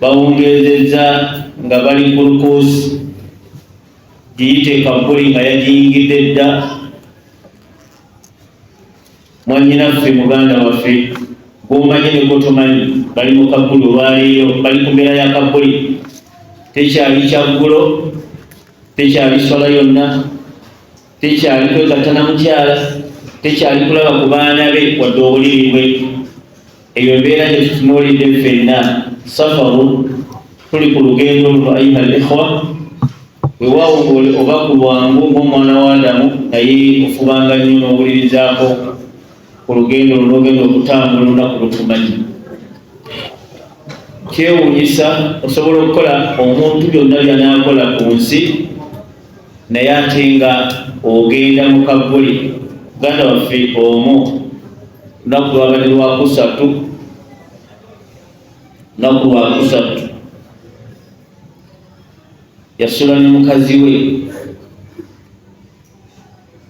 bawungeezezza nga bali ku lukuusi giyite kabbuli nga yagiyingidde dda mwanyinaffe muganda waffe gwomanyi negotomanyi bali mu kabbuli olwaleero bali ku mbeera ya kabbuli tekyali kyaggulo tekyali swala yonna tekyali kwegatta na mukyala tekyali kulaba ku baana be wadde obuliri bwe eyo embeera gye tutunuulidde ffenna safaru tuli ku lugendo luno ayuha al ikhwa wewawo oba ku bwangu ng'omwana wa adamu naye ofubanga nnyo n'owulirizaako ku lugendo lunogenda okutambula olunaku lutumanyi kyewunyisa osobola okukola omuntu byonna byanakola ku nsi naye ate nga ogenda mu kagguli muganda waffe omu lunaku lwabadde lwakusatu lunaku lwakusatu yasula ne mukazi we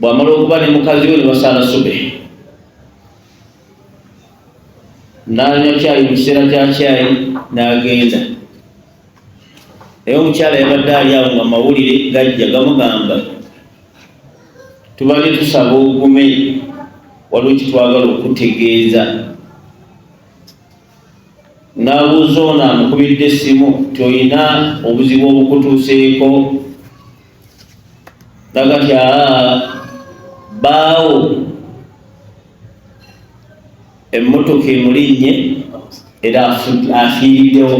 bwamala okuba ne mukazi we nebasaala sube nanywa kyayi mu kiseera kya kyayi n'agenda naye omukyala yabadde ali awo nga mawulire gajja gamugamba tubadde tusaba ogume waliwo kitwagala okutegeeza n'abuuza ono amukubidde essimu tolina obuzibu obukutuuseeko nagati aa baawo emmotoka emulinnye era afiiriddewo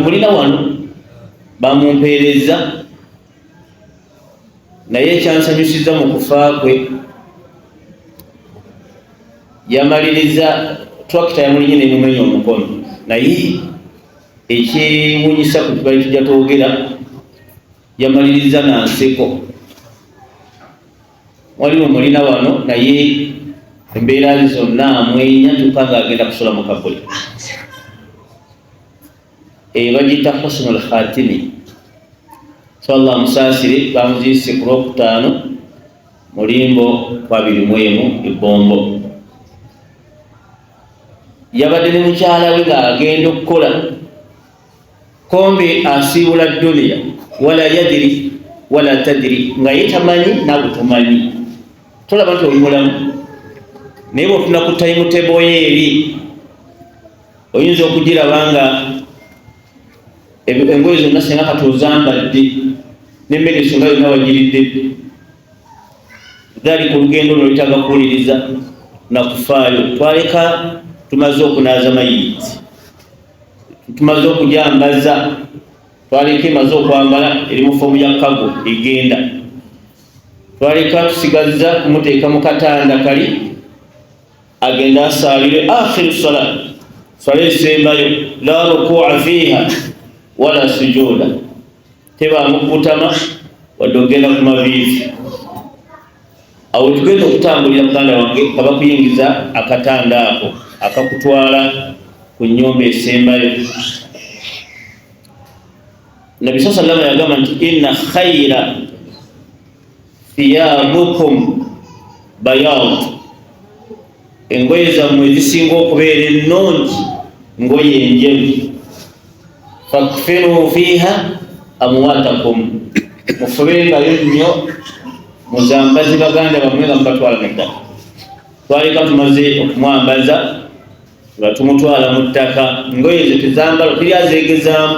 mulina wano bamumpeerezza naye ekyansanyusizza mu kufa kwe yamaliriza twakita yamulinye nemumenya omukono naye ekyewunyisa ku tubali tujja twogera yamaliriza na nseko waliwo omulina wano naye embeera ze zonna amwenya kyokka ng'agenda kusula mu kabuli eyo bagiyita husnu lkhatimi so allah amusaasire bamuziise ku lwokutaano mulimbo kwabiri mu emu ebbombo yabadde ne mukyala we ng'agenda okukola kombi asiibula duniya wala yadiri wala tadiri nga ye tamanyi naawe tomanyi tolaba nti oli mulamu naye bwofuna ku tayimuteboyo eri oyinza okugiraba nga engoye zonna singa kati ozambadde nemmere esonga yonna wagiridde gali ku lugendo luno lutaga kuwuliriza na kufaayo twaleka tumaze okunaaza mayiti tumaze okujambaza twaleka emaze okwambala eri mu fomu ya kago egenda twaleka tusigazza kumuteeka mu katanda kali agenda asaalire akhiru sala sala esembayo la rukua fiiha wala sujuda tebaamu kukutama wadde okugenda ku maviivi awo tugenda okutambulira muganda wange nga bakuyingiza akatanda ako akakutwala ku nyumba esembayo nabi saa salama yagamba nti inna khaira thiyabukum bayad engoye zammwe ezisinga okubeera ennungi ngoye enjeru fakfinu fiiha amwatakum mufubengayo nnyo muzambazi baganda bamwe nga mubatwala mu ttaka twaleka tumaze okumwambaza nga tumutwala mu ttaka ngoye ezo tezambala teri azegezaamu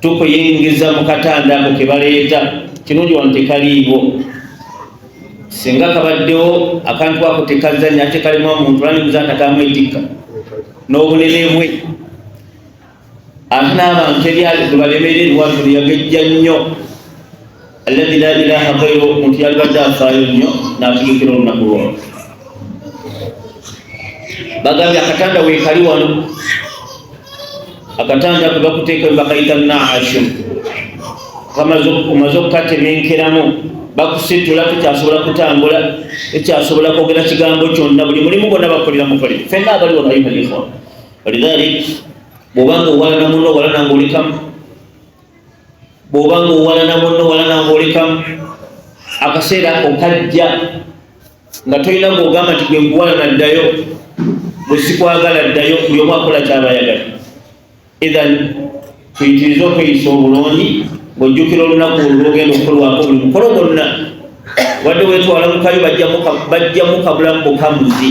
tukuyingiza mu katanda ako ke baleeta kirungi wano tekaliiwo singa kabaddewo akantu ako tekazanya ate kalimu omuntu lanimuza ntakamwetikka n'obunene bwe ate n'abantu ebyali gwe balemererwa tuliyagejja nnyo alladhi la ilaha ghayru omuntu yalibadde afaayo nnyo n'ategekera olunaku lwao bagambye akatanda weekali wano akatanda kwe bakuteeka bakayita naashu omaze okukatemenkeramu bakusitula tekyasobola kutambula tekyasobola kwogera kigambo kyonna buli mulimu gonna bakolera mukolera fenna abali wano ayuha lihwa walidhalik bwobanga owalana muno owalana ngaolikamu bw'oba ng'owalana munno walana ng'olekamu akaseera ako kajja nga tolina ng'ogamba nti gwe nkuwalana ddayo bwe sikwagala ddayo buli omu akola kyaba ayagala ethan tuyitirize okweyisa obulungi ng'ojjukira olunaku olwo lwogenda okukolwako buli mukolo gwonna wadde wetwala mukayo bajjamu kabulamu bukamuzi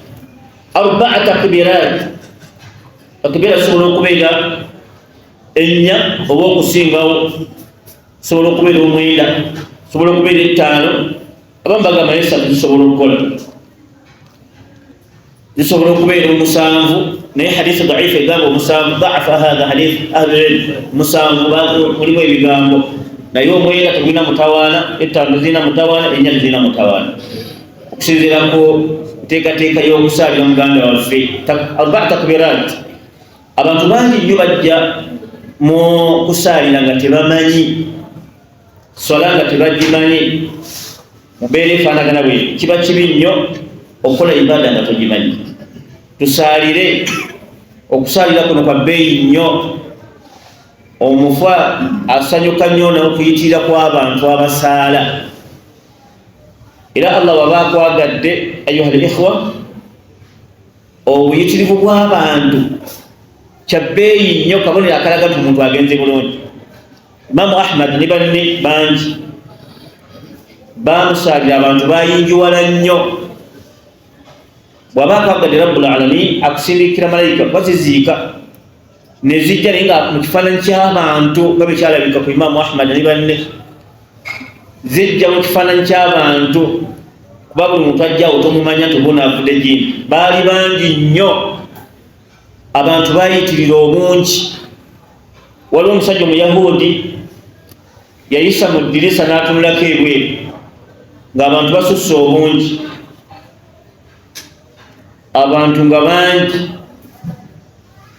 arbaa takbirat takbira sobola okubeera ennya oba okusingawo sobola okubeera omwenda sobola okubeera ettaano abamu bagamba nesatu zisobola okukola zisobola okubeera omusanvu naye hadisi daifu egamba omusanvu daafa hatha hadith ahlulilm musanvu mulimu ebigambo naye omwenda tegulina mutawaana ettaano zirina mutawaana ennya tezirina mutawaana okusinziira ku nteekateeka y'okusaalira muganda waffe alba takbirat abantu bangi nnyo bajja mu kusaalira nga tebamanyi swala nga tebagimanyi mubeera efaanagana bwe kiba kibi nnyo okukola ibaada nga togimanyi tusaalire okusaalira kuno kwa bbeeyi nnyo omufa asanyuka nnyo n'okuyitirira kw'abantu abasaala era allah waba akwagadde ayuha likhwa obuyitirivu bw'abantu kyabbeeyi nnyo kabonero akalaga nti omuntu agenze bulungi imamu ahmad ne banne bangi bamusaalira abantu bayingiwala nnyo bwaba akwagadde rabbul alamin akusindikira malayika baziziika nezijja naye nga mu kifaananyi ky'abantu nga bwe kyalabika ku imaamu ahmad ne banne zijja mu kifaananyi ky'abantu kuba buli muntu ajjawo tomumanya nti oba onaavudde gini baali bangi nnyo abantu bayitirira obungi waliwo omusajja omuyahudi yayisa mu ddirisa n'atunulako ebweru ng'abantu basusse obungi abantu nga bangi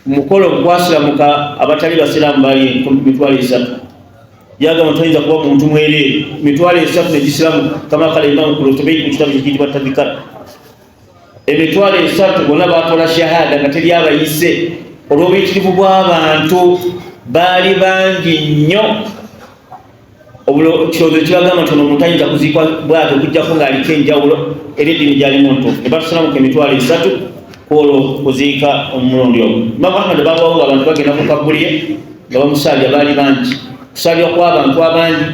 mukolo gwasiramuka abatali basiraamu bali mitwalo esatu yagamba toyinza kuba muntu mwereere mitwalo esatu negisiramu kama kala imamu kulutubei mu kitabu kikitibwa tabikara emitwalo esatu bonna bakola shahada nga teri abayise olw'obuyitirivu bw'abantu baali bangi nnyo ekirowoozo kibagamba nti ono omuntu ayinza kuziikwa bwatyo okujjako ng'aliko enjawulo era eddiini gyalimu ntuufu ne batusalamuka emitwalo esatu kwolwo kuziika omumulondi ogwo imamu ahmadi babawo abantu bagenda ku kabuliye nga bamusaalira baali bangi kusaalirwa kw'abantu abangi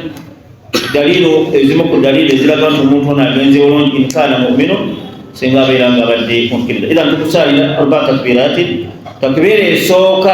daliiro ezimu ku daliiro eziraga nti omuntu ono agenze bulungi inkaana mumino singa abeera nga abadde mukkiriza era ntukusaalira albatakbiratin takbiira esooka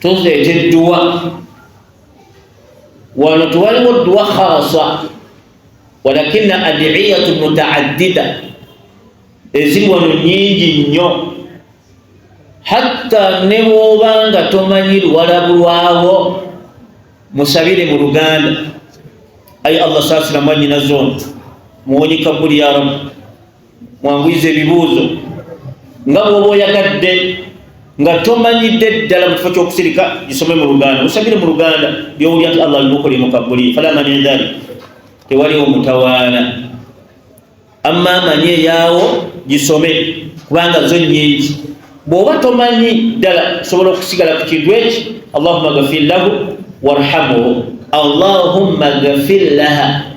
tuzeeta edduwa wano tewaliwo dduwa khasa walakina adiyatu mutaaddida eziri wano nyingi nnyo hatta ne bwoba nga tomanyi luwalabulwawo musabire mu luganda ayi allah saasira mwanyina zona muwonyi kabuli ya rabbi mwanguyiza ebibuuzo nga bwoba oyagadde nga tomanyidde ddala mukifo kyokusirika gisome mu luganda musabire mu luganda byowulya nti allah almukuli mukabuli fala mani dhalik tewaliwo mutawaana amma amanyi eyaawo gisome kubanga zo nyingi bwoba tomanyi ddala osobola okusigala ku kintu eki allahuma gafir lahu warhamuhu allahumma gafir laha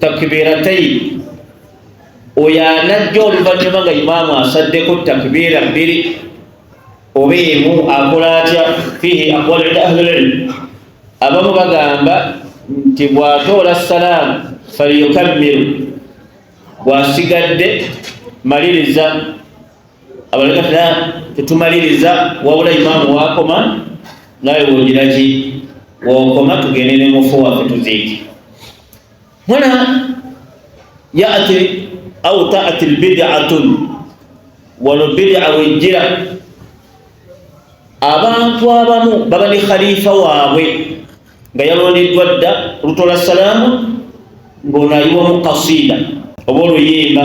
takbirataini oyo anajja oluvannyuma nga imaamu asaddeko takbiira bbiri oba emu akola atya fihi aqwalu inda ahlililmu abamu bagamba nti bwatoola salaamu falyukammiru bwasigadde maliriza abalala fena tetumaliriza wabula imaamu wakoma nawe wulira ki wokoma tugende ne mufu waffe tuziike huna yati au taati lbidatun wano bidaa wejjira abantu abamu baba ne khalifa waabwe nga yalondeddwa dda lutola salaamu ng'ono ayiwamu kasiida oba oluyimba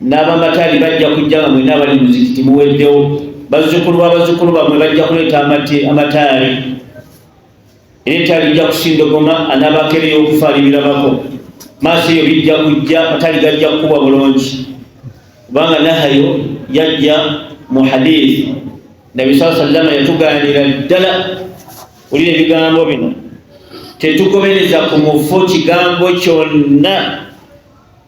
n'abamataali bajja kujja nga mwena abali muzikiti muweddewo bazzukulu b'abazzukulu bamwe bajja kuleeta amataali era etaali ijja kusindogoma anabakere y'okufa alibirabako maaso eyo bijja kujja amataali gajja kukubwa bulungi kubanga nahayo yajja mu hadithi nabi saa sallama yatugaanira ddala olina ebigambo bino tetugobereza ku mufu kigambo kyonna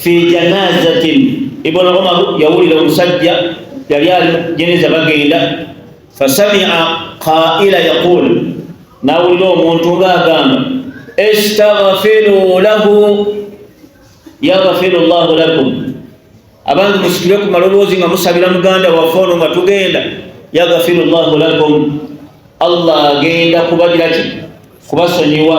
fi janazatin ibn umar yawulira omusajja yali ali jeneza bagenda fasamia qaila yaqul nawulira omuntu ngaagamba istaghfiru lahu yaghfiru llahu lakum abantu musikire ku maloboozi nga musabira muganda waffe ono nga tugenda yaghfiru llahu lakum allah agenda kubagiraki kubasonyiwa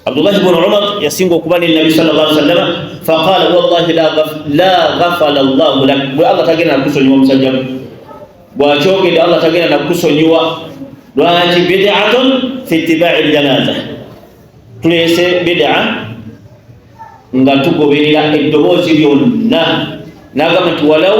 Abdullah ibn Umar yasinga okuba ne Nabi sallallahu alaihi wasallam faqala wallahi la ghaf la ghafala Allah lak bwe Allah tagenda nakusonyiwa omusajja bwakyogedde Allah tagenda nakusonyiwa lwaki bid'atun fi ittiba'i aljanaza tulese bid'a nga tugoberera eddoboozi lyonna nagamba nti walau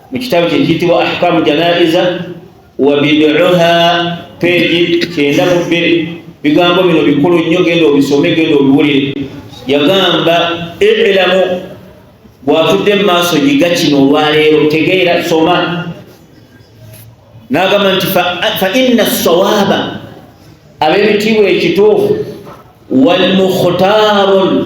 mu kitabo kye kiyitibwa ahkamu janaiza wa biduha peegi kyenda mu bbiri bigambo bino bikulu nnyo genda obisome genda obiwulire yagamba elamu bwatudde mu maaso yiga kino olwaleero tegeera soma n'agamba nti fa inna sawaaba ab'ebitiibwa ekituufu walmukhtaarun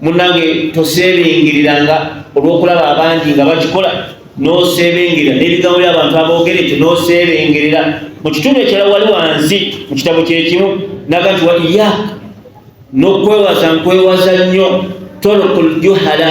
munange toseebengerera nga olw'okulaba abangi nga bakikola n'oseebengerera n'ebigambo by'abantu aboogera ekyo n'oseebengerera mu kitundu ekirala wali wansi mu kitabo kyekimu naga nti wa iyaaka n'okwewaza nkwewaza nnyo tolokul juhala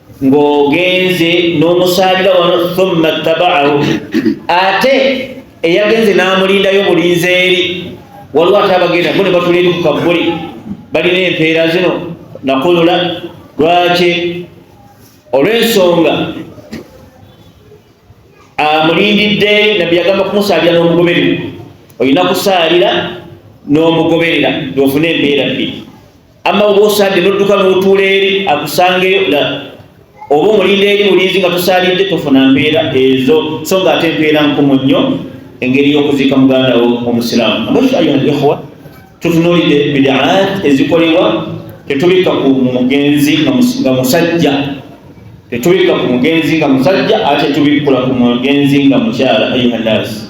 ng'ogenze n'omusaalira wano thumma ttabaahu ate eyagenze n'amulindayo mulinze eri waliwo ate abagenda bo ne batula eri ku kabbuli balina empeera zino nakulula lwaki olw'ensonga amulindidde nabbi yagamba kumusaalira n'omugoberera olina kusaalira n'omugoberera ofune empeera bbiri amma oba osaadde nodduka n'otuula eri akusangeyo la oba omulinda eri mulinzi nga tosalidde tofuna mpeera ezo so nga ate empeera nkumu nnyo engeri y'okuziika muganda wo omusiraamu amasu ayuha lihwa tutunuulidde bidaat ezikolebwa tetubikka ku mugenzi nga musajja tetubikka ku mugenzi nga musajja ate tubikkula ku mugenzi nga mukyala ayuha nnaasi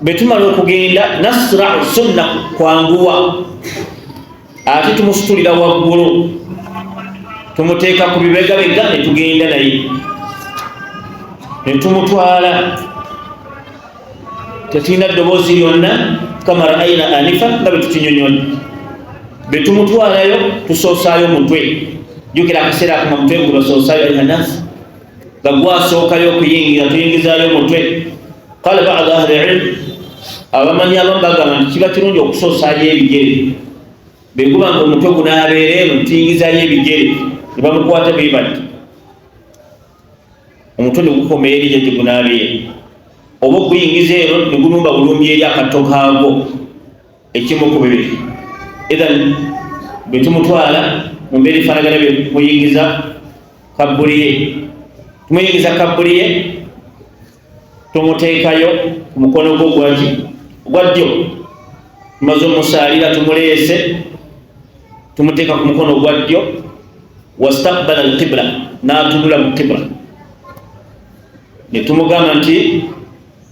bwe tumala okugenda nasrau sunna kwanguwa ate tumusitulira waggulu tumuteeka ku bibegabega ne tugenda naye ne tumutwala tetulina ddoboozi lyonna kama raaina anifa nga bwe tukinyonyola bwe tumutwalayo tusoosaayo mutwe jukira akaseera akuma mutwe ngu basoosaayo ayuha nasi nga gwasookayo okuyingira tuyingizaayo omutwe kale bada ahli ilmu abamanyi abamu bagamba nti kiba kirungi okusoosayo ebigere bweguba nga omutwe gunabeera eno tuyingizayo ebigere ne bamukwata be bati omutwe ne gukoma eri gye gigunabeera oba okuyingiza eno ne gulumba bulumbi eri akatto kaagwo ekimu ku bibiri idhan bwe tumutwala mu mbeera efaanagana bye muyingiza kabbuli ye tumuyingiza kabbuli ye tumuteekayo ku mukono gwo gwaki ogwa ddyo tumaze omusaalira tumuleese tumuteeka ku mukono ogwa ddyo wastakbala alqibla n'atunula mu qibla ne tumugamba nti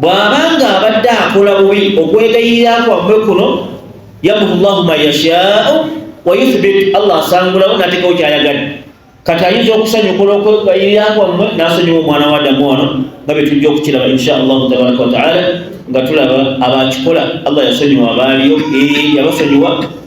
bw'aba ng'abadde akola bubi okwegayirira kwammwe kuno yamuhu llahu man yashaau wa yuthbit allah asangulawo n'ateekawo ky'ayagadde kati ayinza okusanyukula okwegayirira kwammwe n'asonyiwa omwana wa adamu wano nga bye tujja okukiraba insha allahu tabaraka wataala nga tulaba abakikola allah yasonyiwa abaaliyo yabasonyiwa